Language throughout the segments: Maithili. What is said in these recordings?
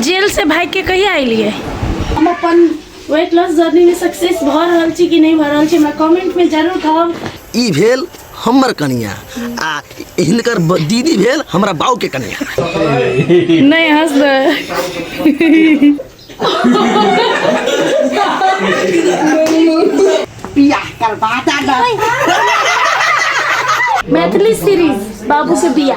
जेल से भाग के कहिया अलिए हम अपन वेट लॉस जर्नी में सक्सेस भ रहल छी कि नहीं भ रहल छी हमरा कमेंट में जरूर कहब ई भेल हमर कनिया आ हिनकर ब- दीदी भेल हमरा बाऊ के कनिया नहीं हंस मैथिली सीरीज बाबू से बिया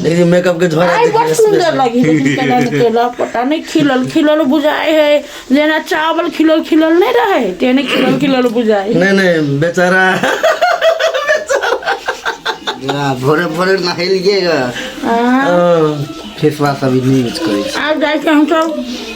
देखिए मेकअप के झोरा आई बड़ सुंदर लगी देखी केला ने केला पता नहीं खिलल खिलल बुझाए है जेना चावल खिलल खिलल नहीं रहे तेने खिलल खिलल बुझाए नहीं नहीं बेचारा या, भोरे भोरे नहेलिएगा हाँ, फेस वॉश अभी नहीं यूज करै छी आब जाए के हम सब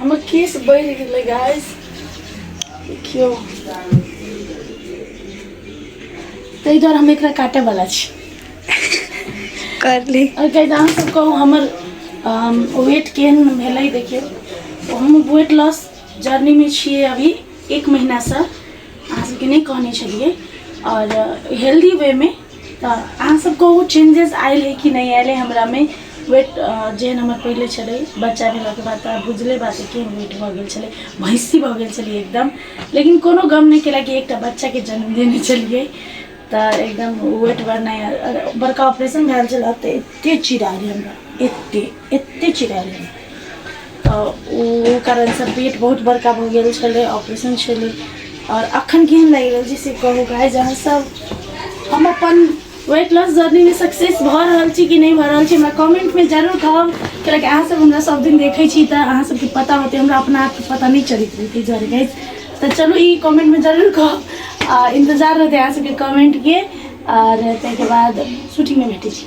हमर केस बढ़ि गेलै गाइस देखियौ ताहि दुआरे हम एकरा काटे वाला छी कर ली और गाइस अहाँ सब कहू हमर वेट केहन भेलै देखियौ तो हम वेट लॉस जर्नी में छियै अभी एक महीना से अहाँ सबके नहि कहने छलियै और हेल्दी वे में तऽ अहाँ सब कहू चेंजेस आयल है कि नहि आयल है हमरा मे वेट जेहन हमर पहिले छलै बच्चा भेला के बाद तऽ बुझले बात है केहन वेट भऽ गेल छलै भैंसी भऽ गेल छलियै एकदम लेकिन कोनो गम नहि केलक कि एकटा बच्चा के जन्म देने छलियै तऽ एकदम वेट बढ़नाइ बड़का ऑपरेशन भेल छलै तऽ एते चिड़ै गेल हमरा एते एते चिड़ायल रहे तऽ ओ कारणसँ पेट बहुत बड़का भऽ गेल छलै ऑपरेशन छलै आओर अखन केहन लागि रहल छै से कहू गाय जहाँ सब हम अपन वेट लॉस जर्नीमे सक्सेस भऽ रहल छी कि नहि भऽ रहल छी हमरा कमेंटमे जरूर कहब कियाकि अहाँसभ हमरा सब दिन देखै छी तऽ अहाँ सबके पता होतै हमरा अपना आपके पता नहि चलैत रहै ताहि दुआरे गाइज तऽ चलू ई कमेंटमे जरूर कहब आ इन्तजार रहतै अहाँ सबके कमेंटके आओर ताहिके बाद शूटिंगमे भेटै छी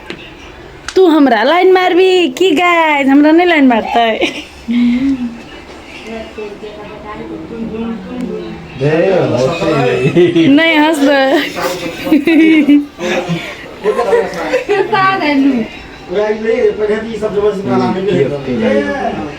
तू हमरा लाइन मारबी की गाय हमरा नहि लाइन मारतै नहि हँसबै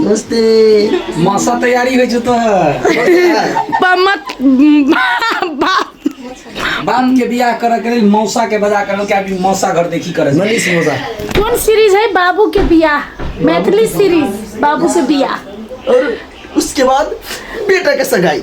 नमस्ते मासा तैयारी होइ छौ तोहर पमत बाप बाप के बियाह करऽ के लेल मौसा के बजा करल के अभी मौसा घर देखी करे छै। मनीष मौसा कौन सीरीज है बाबू के बियाह मैथिली सीरीज बाबू से बियाह और उसके बाद बेटा के सगाई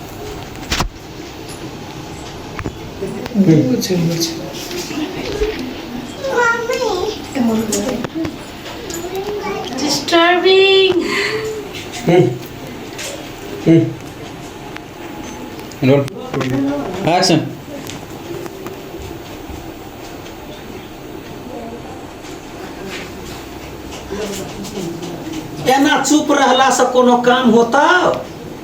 Action. एना चुप रहलासँ कोनो काम होता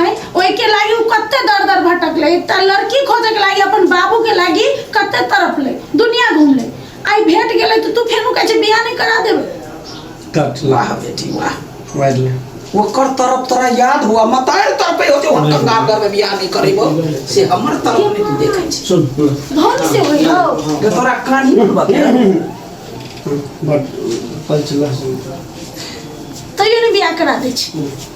आय ओहि के लागी उ कत्ते दर दर भटकले एकटा लड़की खोजे के लागी अपन बाबू के लागी कत्ते तरफले दुनिया घूमले आय भेट गेले तो तू फेनु कहे छे बियाह नहीं करा देबे कट वाह बेटी वाह मारि ले ओकर तरफ तोरा याद हुआ मतार तरफे हो जे हम कंगाल घर में बियाह नहीं करेबो से हमर तरफ नहीं तू देखे छी सुन धन से होई हो जे तोरा कानी में बते बट पचला सुन तैयो नहीं बियाह करा दे छी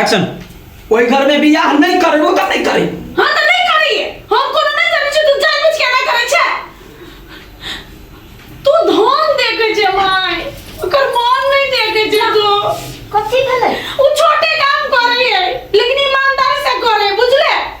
एक्शन ओहि घर में बियाह नहीं करबो तो नहीं करे हाँ तो नहीं करिए हम कोनो नहीं करै छी तू जानबूझ के नहीं करै छै तू धन देखे छै माय ओकर मन नहीं देखे छै तू कथी भेलै ओ छोटे काम करे है लेकिन ईमानदारी से करे बुझले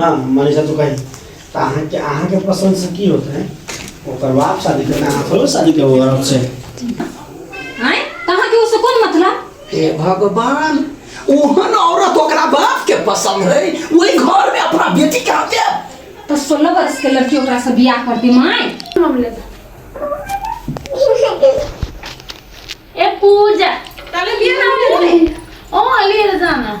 हाँ मनीषा तो कही तो अहाँ के अहाँ के पसंद से की होते हैं ओकर बाप शादी करना अहाँ थोड़े शादी के होगा औरत से आए कहाँ के उससे कौन मतलब हे भगवान ओहन औरत ओकरा बाप के पसंद है वही घर में अपना बेटी के हाथे तो सोलह बरस के लड़की ओकरा से बियाह कर दी माए मामले ए पूजा तले बियाह ना होले ओ ले जाना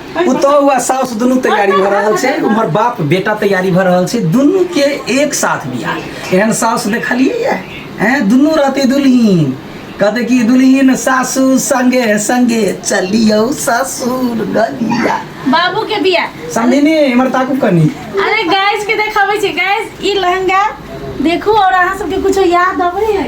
पुतहु आ साउस दुनू तैयारी भऽ रहल छै उम्हर बाप बेटा तैयारी भऽ रहल छै दुनू के एक साथ बियाह एहन साउस देखलियै हैं दुनू रहते दुल्हीन कहते कि दुल्हीन सासू संगे संगे चलियो ससुर गलिया बाबू के बिया समझिनी इम्हर ताकू कनी अरे गाइस के देखाबै छै गाइस ई लहंगा देखू और अहाँ सबके कुछो याद अबै है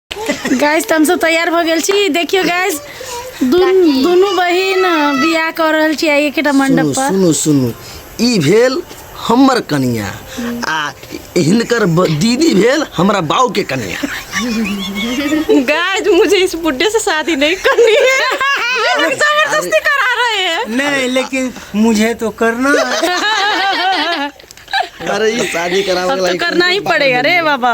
गैस तऽ हमसभ तैयार भऽ गेल छी देखियौ गैस दुन- दुनू बहिन बियाह कऽ रहल छी आइ एकेटा सुनू मंडप पर सुनू सुनू ई भेल हमर कनिया आ हिनकर ब- दीदी भेल हमरा बाऊ के कनिया गाइस मुझे इस बुढ़े से शादी नहीं करनी है ये लोग जबरदस्ती करा रहे हैं नहीं लेकिन मुझे तो करना है अरे ई शादी करावे अब तो करना ही पड़ेगा रे बाबा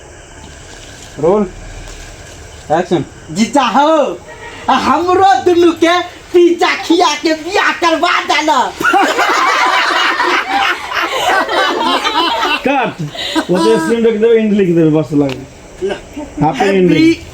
रोल एक्शन जीजा हो आ हमरो दुनू के पिज्जा खिया के बियाह करवा देना कट ओते सीन रख देबे एंड लिख देबे बस लग हैप्पी एंडिंग